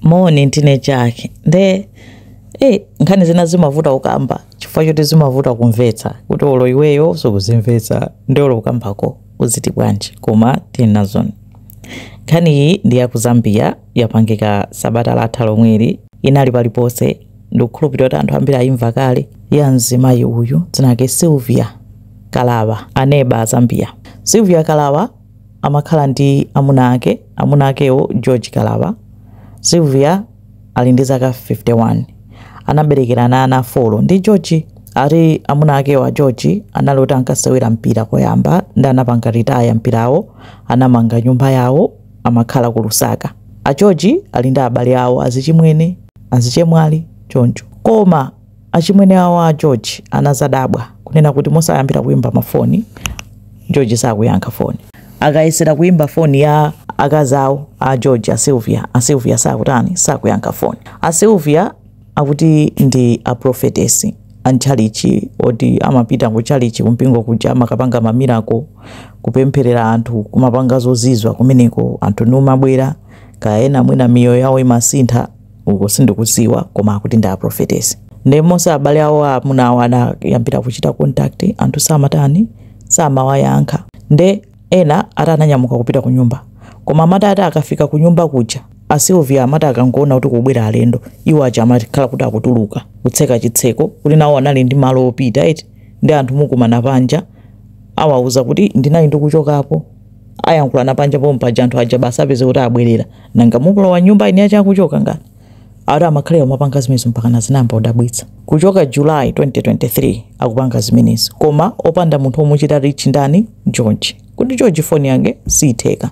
moni ndine jack nde nkhani zina zimavuta kukamba chifukwa choti zimavuta kumvetsa kuti olo iweyo sukuzimvetsa nde olo ukambako uziti bwanji koma tili nazoni nkhani iyi ndi ya ku zambia yapangika sabata latha lomweli inali paliponse ndikukhulupirira kuti anthu ambiri ayimva kale ya mzimayi uyu dzina lake sylvia kalaba aneba a zambia sylvia kalaba amakhala ndi amuna ake, amuna akewo George Kalaba, Sylvia ali ndi zaka 51 anaberekerana ana 4 ndi George ati amuna akewo a George anali oti ankasewera mpira koyamba ndi anapanga retire mpirawo anamanga nyumba yawo amakhala ku Lusaka a George ali ndi abale awo azichimwene azichemwali choncho koma Achimwene awo a George anazadabwa kunena kuti monse ayambira kuimba mafoni, George sakuyankha foni. Akayesera kuimba foni ya akazi awo a George, a Sylvia, a Sylvia sakutani, sakuyankha foni. A Sylvia akuti ndi a Prophetess a m'tchalitchi oti amapita kutchalitchi kumpingo kuja amakapanga ma miracle, kupempherera anthu, kumapanga zozizwa kumeneko, anthu nkumabwera, kaya ena mwina miyoyo yawo imasintha. uko sindikuziwa koma akuti ndi aprofetesi nde monse abale awo amuna awo anayambira kuchita contact anthu samatani samawayankha nde ena ati ananyamuka kupita kunyumba koma amati ati akafika kunyumba kuja a Sylvia amati akangoona kuti kubwera alendo iwo aja amakhala kuti akutuluka kutseka chitseko kuti nawo anali ndi malo opita eti ndi anthu nkukumana panja awauza kuti ndinali ndikuchokapo ayankhulana panja pompaja anthu aja basi apeze kuti abwerera nanga nkulowa nyumba eni ache akuchoka ngati ati amakhalira umapanga zimenezo mpakana zinayamba kudabwitsa kuchoka july 2023 akupanga zimenezi koma opanda munthu omuchita reach ndani george kuti george foni yake siitheka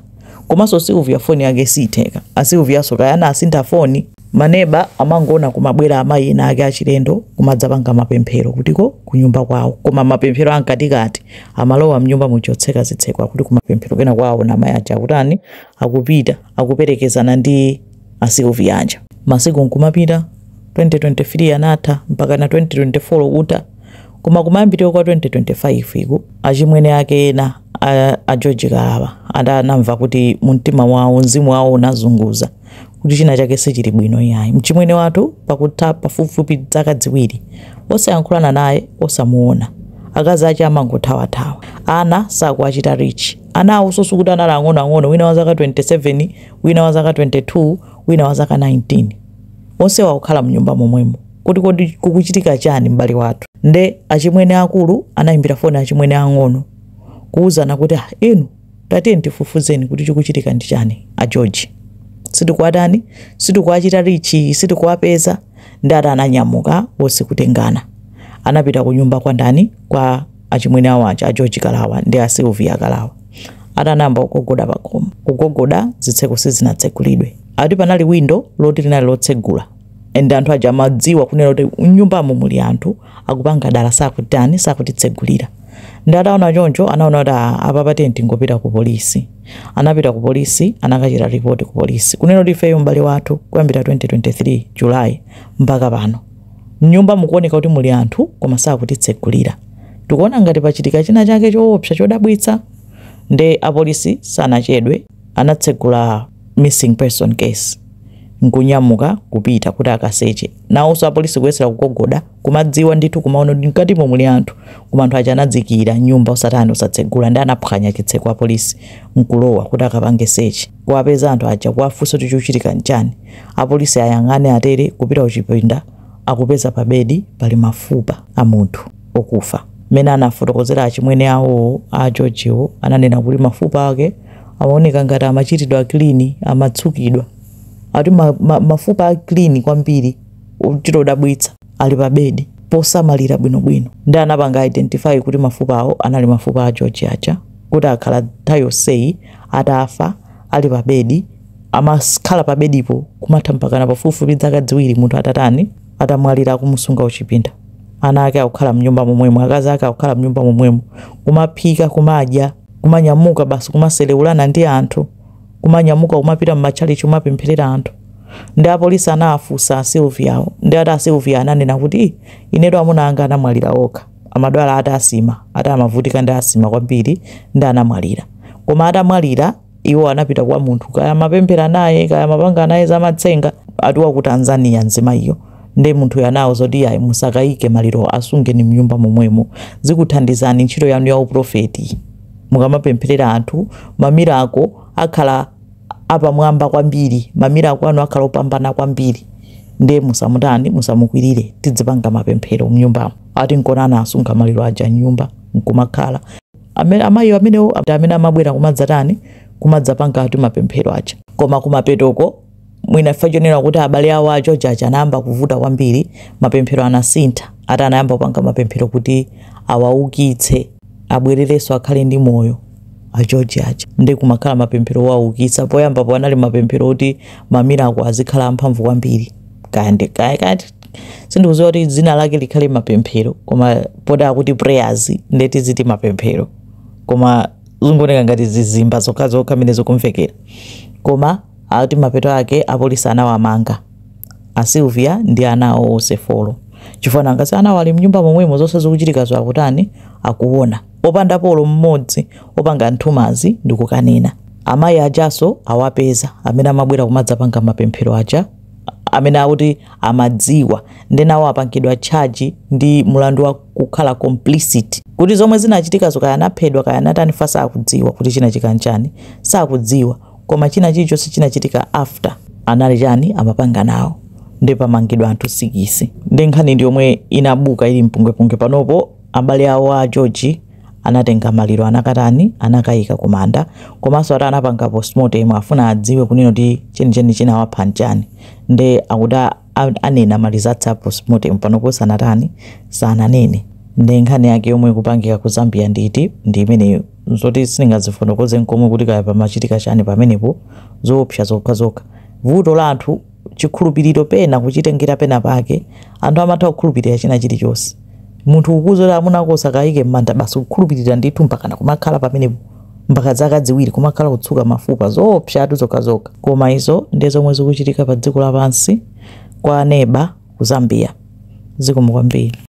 komanso sylvia foni yake siitheka a sylvianso kaya anasintha foni Ma neba amangoona kumabwera amayi ena ake achilendo kumadzapanga mapemphero akuti kunyumba kwawo koma mapemphero a mkatikati amalowa mnyumba muja kutseka zitseko akuti kumapemphero kenako aona amayi aja akutani akupita akuperekezana ndi a Sylvia aja. Masiku nkumapita, 2023 anatha mpakana 2024 kutha koma kumayambiriro kwa 2025 ku, achimwene ake ena a a George Kalaba ati anamva kuti mumtima mwawo mzimu wawo unazunguza. kuti china chake sichili bwino iyayi mchimwene wathu pakutha pafupifupi zaka ziwiri osayankhulana naye osamuona akazi ache amangothawathawa ana sakuwachita reach ana awonso sikuti anali ang'onoang'ono wina wa zaka 27 wina wa zaka 22 wina wa zaka 19 onse wakukhala mnyumba momwemo kuti kodi kukuchitika chani m'bale wathu nde achimwene akulu anayimbira foni achimwene ang'ono kuwuzana kuti ah inu Tatiyeni tifufuzeni kuti chikuchitika ndi chani ndi a George. Sitikuwatani, sitikuwachita reach, sitikuwapeza nde ati ananyamuka onse kutengana. Anapita kunyumba kwa ndani kwa achimwene awo aja a George Kalawa ndi a Sylvia Kalawa. Ati anayamba kugogoda pakhomo. Kugogoda zitseko sizinatsekulidwe. Ati panali window loti linali lotsegula and anthu aja amadziwa kunena kuti m'nyumbamo muli anthu. akupanga dala sakutani sakutitsegulira nde ataona choncho anaona kuti "Ah, apa basi tingopita ku polisi anapita ku polisi anakachita ripoti ku polisi kunena kuti ifeyo m'bale wathu kuyambira 2023 julayi mpaka pano mnyumba mukuoneka kuti muli anthu koma sakutitsegulira tikuona ngati pachitika china chake choopsa chodabwitsa nde apolisi sanachedwe anatsegula missing person case nkunyamuka kupita kuti akaseche nawonso apolisi kuyesera kugogoda kumadziwa ndithu kumaona kuti mkatimo muli anthu koma anthu aja anadzikiira mnyumba osatani osatsegula nde anaphwanya chitseko apolisi nkulowa kuti akapange sechi kuwapeza anthu aja kuwafunsa kuti chikuchitika nchani apolisi ayang'ane atere kupita kuchipinda akupeza pabedi pali mafupa a munthu okufa. Mmene anafotokozera achimwene awowo, a Georgewo ananena kuti mafupa ake amaoneka ngati amachitidwa kilini, amatsukidwa. Akuti ma, ma, mafupa a kilini kwambiri ochita kudabwitsa ali pa bedi posamalira bwinobwino. Nde anapanga identify kuti mafupawo anali mafupa a George aja kuti akhala nthawi yonseyi atafa ali pa bedi amakhala pa bedipo kumatha mpakana pafupifupi dzaka dziwiri munthu atatani, atamwalira akumusunga kuchipinda ana ake akukhala mnyumba momwemo akazi ake akukhala mnyumba momwemo kumaphika kumadya kumanyamuka basi kumaselewulana ndi anthu kumanyamuka kumapita mmatchalichi kumapempherera anthu nde apolisi anawafunsa a Sylvia awo nde ati a Sylvia ananena kuti "Ih, inetu amuna anga anamwalira okha amadwala ati asima ati amavutika ndi asima kwambiri nde anamwalira koma atamwalira iwo anapita kwa munthu kaya amapemphera naye kaya amapanga naye zamatsenga ati wa ku tanzania mzimayiyo nde munthuyo anawauza zoti yayi musakaike maliro asungeni mnyumba momwemo zikuthandizani ntchito yanu ya uprofeti mukamapempherera anthu mamirako akhala apamwamba kwambiri mamirako anu akhala opambana kwambiri nde musamutani musamukwirire tidzipanga mapemphero mnyumbamo ati nkona anasunga maliro aja mnyumba nkumakhala Amene amayiwo amenewo ndi amene amabwera kumadzatani, kumadzapanga ati mapemphero aja. Koma kumapetoko, mwina chifukwa chonena kuti abale awo a George aja anayamba kuvuta kwambiri, mapemphero anasintha, ati anayamba kupanga mapemphero kuti awaukitse, abwererenso akhale ndi moyo a George aja. Ndiye kumakhala mapemphero owaukitsa. Poyambapo anali mapemphero oti mamiracle azikhala amphamvu kwambiri, kaya ndi kaya kaya sindikuziwa kuti dzina lake likhale mapemphero koma poti akuti prayers nde tiziti mapemphero koma zungoneka ngati zizimba zokhazokha mene zikumvekera koma akuti mapeto ake apolisi anawamanga a silvia ndi ana awo onse folo chifukwa nanga si anawo ali mnyumba momwemo zonse zikuchitikazo akutani akuona opanda olo mmodzi opanga nthumazi ndikukanena amayi ajaso awapeza amene amabwera kumadzapanga mapemphero aja amene akuti amadziwa nde nawo apangidwa charge ndi mulandu wa kukhala complicit kuti zomwe zinachitikazo kaya anaphedwa kaya anatani fact sakudziwa kuti chinachitika nchani sakudziwa koma china chilichonse chinachitika after anali chani amapanga nawo nde pamangidwa anthu sikisi nde nkhani ndi yomwe inabuka ili mpungwepungwe panopo abale awo a george anatenga maliro anakatani anakayika kumanda komanso ati anapanga postmortem afuna adziwe kunena kuti chenicheni chinawapha nchani nde akuti a- a- anena ma results a postmortem panopo sanatani sananene nde nkhani yake yomwe ikupangika ku zambia nditi ndi imeneyo zoti sindingazifotokoze nkomwe kuti kaya pamachitika chani pamenepo zoopsa zokha zokha vuto la anthu chikhulupiriro pena kuchitengera pena pake anthu amatha kukhulupirira china chilichonse munthu kukuuza kuti amuna ako usakayike m'manda basi kukhulupirira ndithu mpakana kumakhala pamenepo mpaka zaka ziwiri kumakhala kutsuka mafupa zoopsatu zokhazokha koma izo ndi zomwe zikuchitika pa dziko lapansi kwa aneba ku zambia zikomo kwambiri